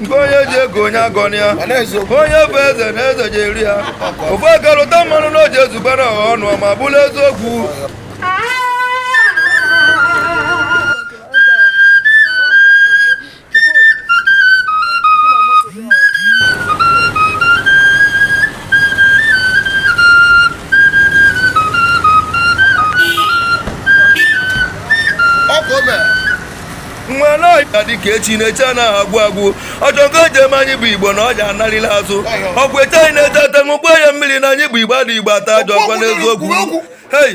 nke onye ji ego onye agọna ya onye bụ eze na eze ji eri ya ofu aka lụta mmanụ na o ji ezugbe na ọha ọnụ ma bụrụ eziokwu nwa naịta dịka echi na echi anaghị agwụ agwụ ọjọ nke o ji eme anyị bụ igbo na ọja anarịla azụ ọkwa eche anyị na-eche ata ṅụkwa ya mmiri na anyị bụ igbo adị igbo ata ajọ ọkwa n'eziokwu hei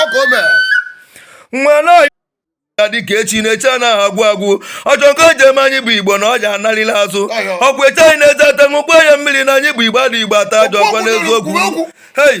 ọkụ o mere nwa na ya dịka echi na echi anaghị agwụ agwụ ọjọ nke o ji eme anyị bụ igbo na ọja anarịla azụ Ọyọ. ọkwa eche anyị na-eche ata ṅụkwa ya mmiri na anyị bụ igbo adị igbo ata ajọ ọkwa n'eziokwu Kwuo okwu. hei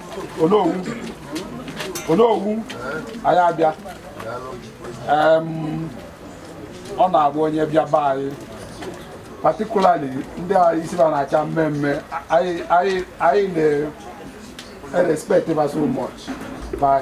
onowu onowu anyị abịa Em, ọ na-abụ onye bịa be anyị particularly ndị a isi ba na-acha mmee mmee anyị anyị anyị na-erespect ba so much by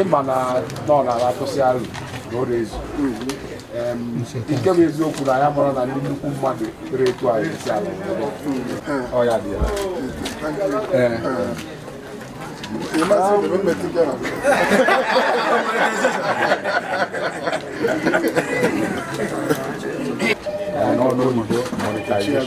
ịma na nọ n'ala atụsị arụ na ọ na-ezu nke bụ eziokwu na ya mara na ndị nnukwu mmadụ kpere etu anyị esi ala ọ ya dị ya ee n'ọnụ oyibo monetization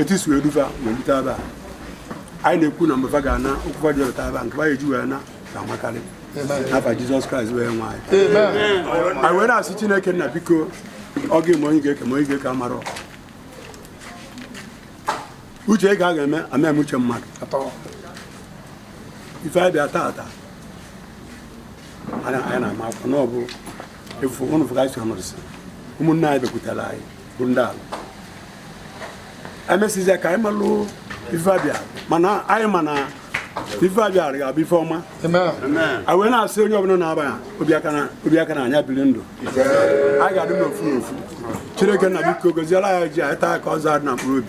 etu i si wee du fa wee lute ebe a anyị na-ekwu na mbe fa ga-ana ụkwụ fa ji lute ebe a nke ba eji wee naa ka amakarị n'afa jizọs kraịst onye nwe anyị anyị wee na-asị chineke nna biko ọ gị ma onye ga-eke ma onye ga-eke amarọ uche gị ka a ga-eme a ma eme uche mmadụ ife anyị bịa taata anyị na-ama akwụkwọ na ọ bụ efu ụnụ fụga isi ọnọdụ si ụmụnne anyị bịakwutere anyị bụ ndị ala emesizie ka anyị malụ ife a bịa mana anyị ma na ife a bịa ga-abụ ife ọma a wee na-asị onye ọbụla na-aba ya obi aka na anya biri ndụ anyị ga-adị n'ofu n'ofu chineke nna biko goziela ya ji anyị taa ka ọ zaa na mkpụrụ obi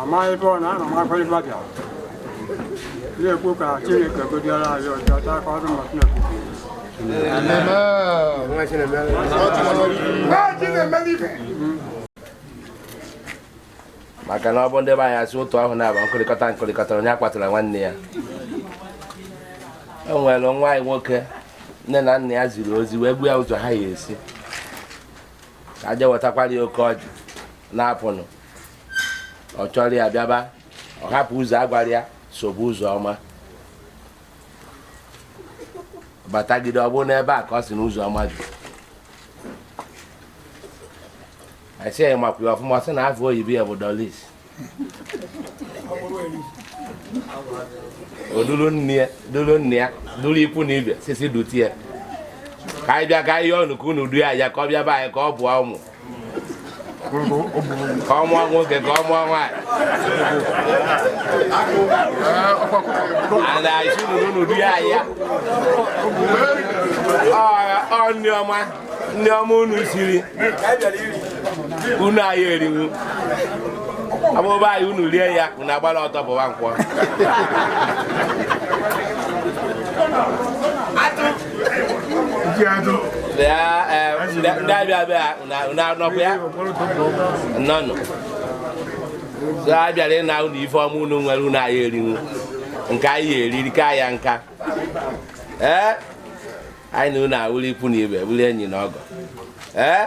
amaghị ebe ọ na ana m akwa ibe bịara na-ekwu ka chineke gọziere anyị ọjị taa ka ọdụ mmasị na-ekwu maka na ọ bụ ndị be anyị sị otu ahụ na-aba nkụrịkọta nkụrịkọta onye kpọtara nwanne ya o nwere nwa anyị nwoke nne na nna ya ziri ozi wee gwa ya ụzọ ha ya esi ka o je wetakwara ya oke ọjị na-apụnụ ọ chọrọ ya bịaba ọ hapụ ụzọ a gwara ya sobe ụzọ ọma batagide ọ bụrụ n'ebe a ka ọ sị na ụzọ ọma dị a sị ya makwa ya ọfụma sị na afa oyibo ya bụ doris o dulu nne ya dulu nna ya dulu ikwu na ibe sisi dutie ka anyị bịa ka anyị yọọ unu ka unu duo ya ka ọ bịa be anyị ka ọ mụọ ụmụ ka ọ mụọ nwoke ka ọ mụọ nwaanyị ana isi nụrụ n'ụdị ya ya ọ nni ọma nni ọma unu siri unu anyị eriwu a bịa be anyị unu rie ya unu agbala ọsọ bụwa nkwọ ndị abịa abịa n'ọkụ ya nnọọnụ so a bịara ịna unu ife ọma unu nwere unu anyị erinwu nke anyị eriri ka ya nka ee anyị na unu awụrụ ikwu na ibe bụrụ enyi na ọgọ ee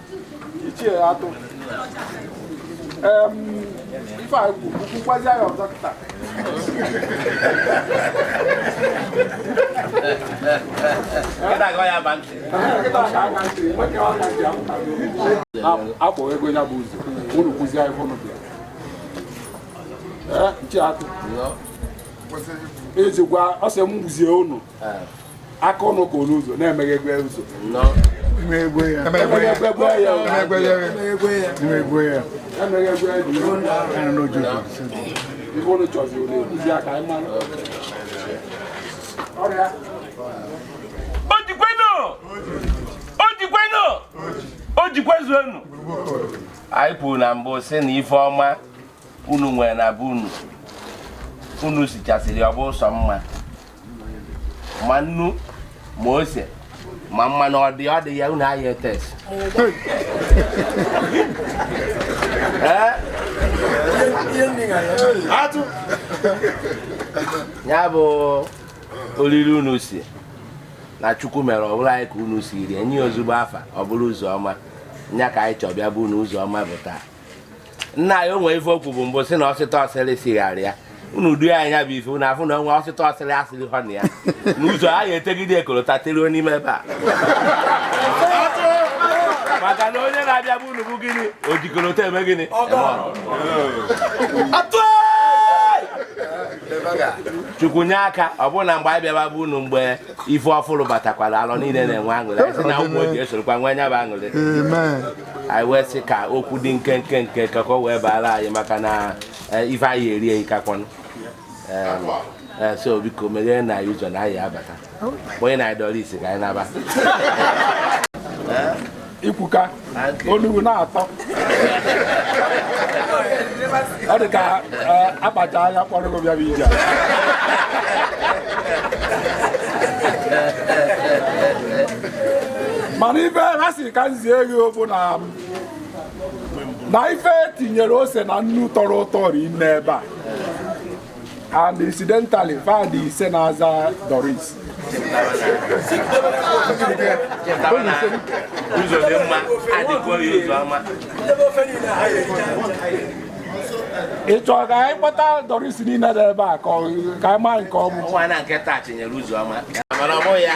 ichie atụ ife a kwukwazi ya ọzọ kịta akpọ ego ya bụ ụzọ unu kwụzi anyị fọnụ bịa nchi atụ ejikwa ọsọ m gwuzie unu aka ọnụ ka onye ụzọ na-emeghe egwe ụzọ emeghe ya anyị kwuru na mbụ sị na ife ọma unu nwere na be unu unu sichasịrị ọ bụ ụsọ mma ma nnu ma ose ma mmanụ ọ dị ọ dị ya unu anyị e-taste ya bụ oriri unu sie na chukwu mere ọ bụrụ anyị ka unu siri nye ezigbo afa ọ bụrụ ụzọ ọma nya ka anyị chọbịa bụnụ ụzọ ọma bụ taa nna ya o nwere ife okwu bụ mbụ si na ọsịta ọsịrị sigharị ya unu du ya anya bụ ife unu afụ na onwe ọsịta ọsịrị asịrị hụ na ya n'ụzọ a ga-etegide kolota teruo n'ime ebe a maka na onye na-abịa be unu bụ gịnị o ji kolota eme gịnị chukwu nye aka ọ bụrụ na mgbe anyị bịaba be unu mgbe ife ọfụrụ batakwara Alọ niile na-enwe aṅụrị anyị sị na Ụmụoji esorokwa nwee nya bụ aṅụrị anyị wee sị ka okwu dị nkenke nke ka ka o wee baara anyị maka na eh, ife anyị eri eyi kakwanụ Em, eh, so biko meghee na anyị ụzọ na anyị abata nyenụ anyị Doris ka anyị naba ikwuka onugbu na-atọ ọ dị ka eh, akpacha anya kpọrọ gị bịara ije mana ife ha sị ka m zie gị bụ na na ife tinyere ose na nnu tọrọ ụtọ rinne ebe a and incidentally fa dị ise na-aza Doris ụzọ dị mma adịkwa ya ụzọ ọma ị chọrọ ka anyị kpọta Doris niile dị ebe a ka ọ- ka anyị maa nke ọ bụ nwa na nke taa tinyere ụzọ ọma mana ọ bụghị ya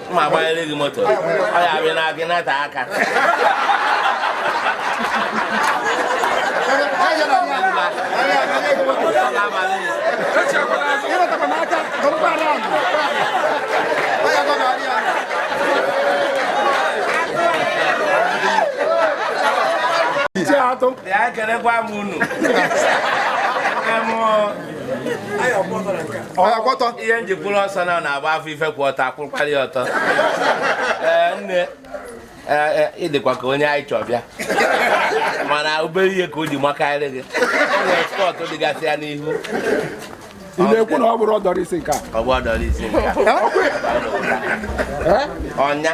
ma agbanyere gị moto ọ ya abịa na gị nata aka Ekenekwa m unu. Em, ọ, ọtọ ihe m ji kwụrụ ọsọ na na-agba afọ ife kwụ ọtọ akwụkwara ọtọ ee nne ị dịkwa ka onye anyị chọ bịa mana obere ihe ka o ji makarị gị nwere spot dịgasị ya n'ihu ị na-ekwu na ọ bụrụ Doris nke a ọ bụ Doris nke a ọ nya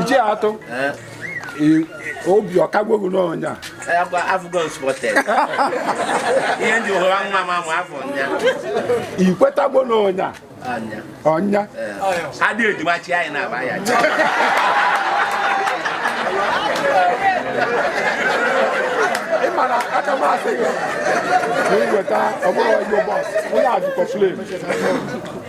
ichie atụ obi ọ kagwo gị na ọ nya ihe ndị hụrụ nwa m amụ afọ nya i kwetagwo na ọ nya ọ nya adị ejima chi anyị na-aba ya ị mara aka m asị gị na iweta ọ bụrụ ọjọ bọs onye ajụkọ flim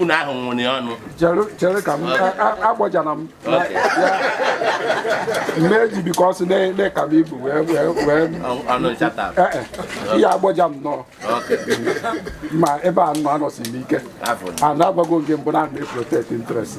unu ahụ nwụrụ ọnụ chere ka m agbajana m mgbe eji biko ọsụ na ị ka m ibu wee wee ihe agbaja m nọọ ma ebe a nọ anọsi m ike a na-agbago nke mbụ na-ana protect interest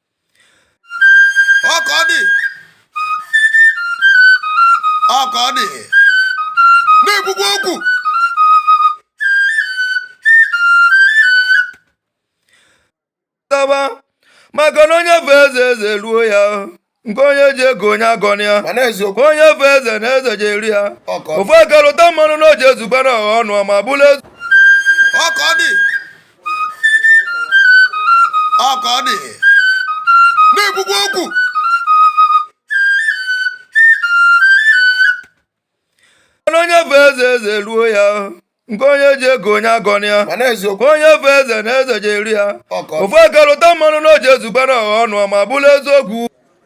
ọ ka ọ dị ọ ka ọ dị na-ekwukwa okwu taba maka na onye fee eze eze eruo ya nke onye ji eko onye agọna ya mana eziokwu onye fee eze na eze ji eru ya ọ ka ọ dị ofu aka lụta mmanụ na o ji ezugba na ọha ọnụ ma bụrụ eze ọ ka ọ dị ọ ka ọ dị na-ekwukwa okwu Mana onye fee eze eze eruo ya nke onye ji eko onye agọna ya mana eziokwu onye fee eze na eze ji eru ya ọ ka ọ dị ofu aka lụta mmanụ na o ji ezugba na ọha ọnụ ma bụrụ eziokwu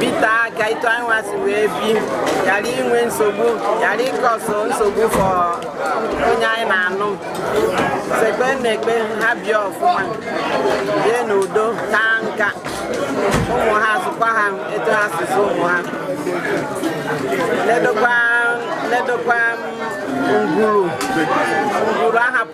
bite aka etu anyị nwa si wee bi ghara inwe nsogbu ghara ịcause nsogbu for onye anyị na-anụ sekpe na-ekpe ha bịa ọfụma bie n'udo taa nka ụmụ ha zụkwa ha etu ha si zụ ụmụ ha ledokwa ledokwa ngwuru ngwuru ahapụ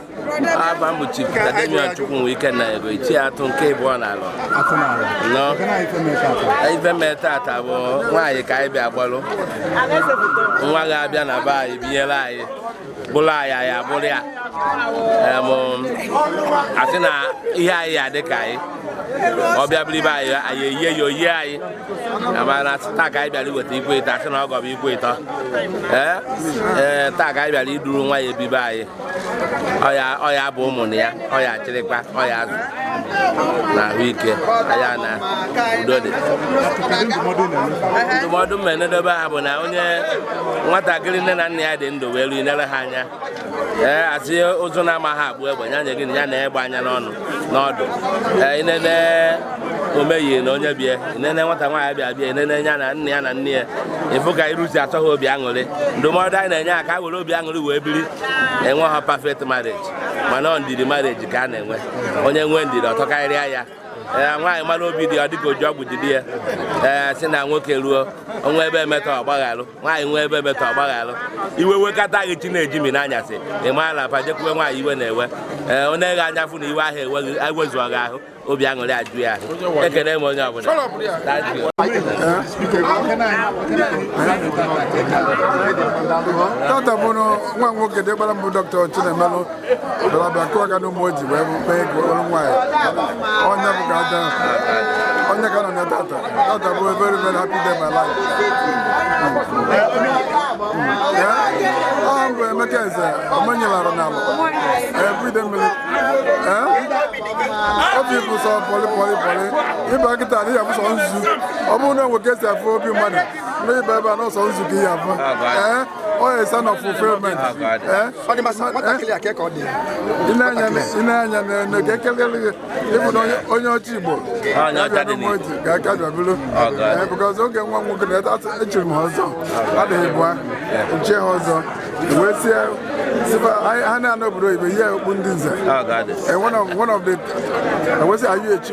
afa m bụ Chief Tademion Chukwunwike na ego ichie atụ nke ịbụọ na Alọ nọ ife mee tata bụ nwaanyị ka anyị bịa gbalụ nwa ga-abịa na be anyị binyere anyị bụrụ anyị anyị abụrụ ya Em, asị na ihe anyị ya dị ka anyị ọ bịa bụrụ ibe anyị anyị eyie ya oyi anyị ama na taa ka anyị bịara iweta ikwe ịtọ asị na ọ gọbụ ikwe ịtọ ee ee taa ka anyị bịara iduru nwa ya ebibe anyị ọ ya ọ ya bụ ụmụ na ya ọ ya-achịrịkwa ọ ya-azụ na ahụike ya na udo dị ndụmọdụ m na-enyedobe ha bụ na onye nwatakịrị nne na nna ya dị ndụ wee ruo inere ha anya ee asị ụzụ na-amaghị akpụ egbe ya nye gị na ya nee egbe anya n'ọdụ n'ọdụ i nene Omeyi na onye be ya i nene nwata nwaanyị bịa bịa i nene ya na nna ya na nne ya ị fụ ka iru si atọ ha obi aṅụrị ndụmọdụ anyị na-enye ha ka ha were obi aṅụrị wee biri enweha perfect marriage mana ọ ndidi marriage ka a na-enwe onye nwee ndidi ọ tọkarịa ya ee nwaanyị mara obi di ọ dịka o ji ọgwụ jide ya ee si na nwoke ruo o nwee ebe o metọ ọ gbaghalụ nwaanyị nwee ebe o metọ ọ gbaghalụ iwe wekata gị chi na-eji ime anyasị ị mara na pajekwuwe nwaanyị iwe na-ewe ee onye ghe anya fụ na iwe ahụ eweghị ewezuọ gị ahụ obi aṅụrị eju ya ahụ ekele m onye ọbụla Thank you. Tata bụ nwa nwoke diọkpara m bụ dọkịta Chinemelụ bịa kụọ aka n'ụmụoji wee kpee ego ọrụ nwaanyị onye bụ ka aja onye ka nọ na tata tata bụ very very happy day my life ọ bụ emeka eze omenyelara n'ala everyday mmiri obi bụ sọ pọlị pọlị pọlị ịba kịta adịghị abụ sọ nzu ọ bụrụ na e nwee ka e si afụ obi mmadụ na ị baa ebe a na ọ sọ nzu ka ị ya-afụ onye oh, son of fulfillment nna anyị n'enu ka ekelele gị ị bụ na onye ọcha igbo ga-aka bịabụrụ because oge nwa nwoke na echiri m ọzọ adịghị bụa nche ha ọzọ wee sie sị fa ha na-anọ obodo ibe ihe okpu ndị nze one of the wee sị ayụ echi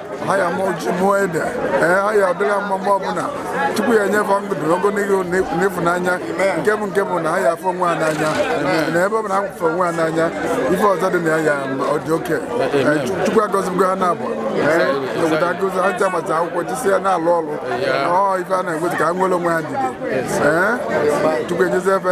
ha ya-amụ ji mụọ ede ee ha ya adịla mma mgbe ọbụla chukwu ya-enye fa ndụ ogologo na ịfụnanya nke bụ nke bụ na ha ya-afụ onwe ha n'anya na ebe ọ bụla ha fụrụ onwe ha n'anya ife ọzọ dị na ya ya ọ dị oke chukwu agọzigo ha na-abụ obodo agụzi ha ncha mata akwụkwọ chisi ya na-alụ ọrụ ọ ife a na-enweta ka ha nwere onwe ha dide ee chukwu enyezie fa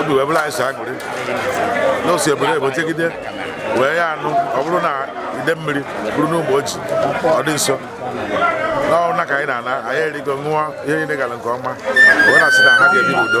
obi wee bụrụ anyị sọ aṅụrị na o si obodo oyibo jegide wee ya anụ ọ bụrụ na idemmiri bụrụ n'ụmụoji ọ dị nso n'ọrụ na ka anyị na-ana anyị erigo ṅụọ ihe niile gara nke ọma wee na-asị na ha ga-ebi n'udo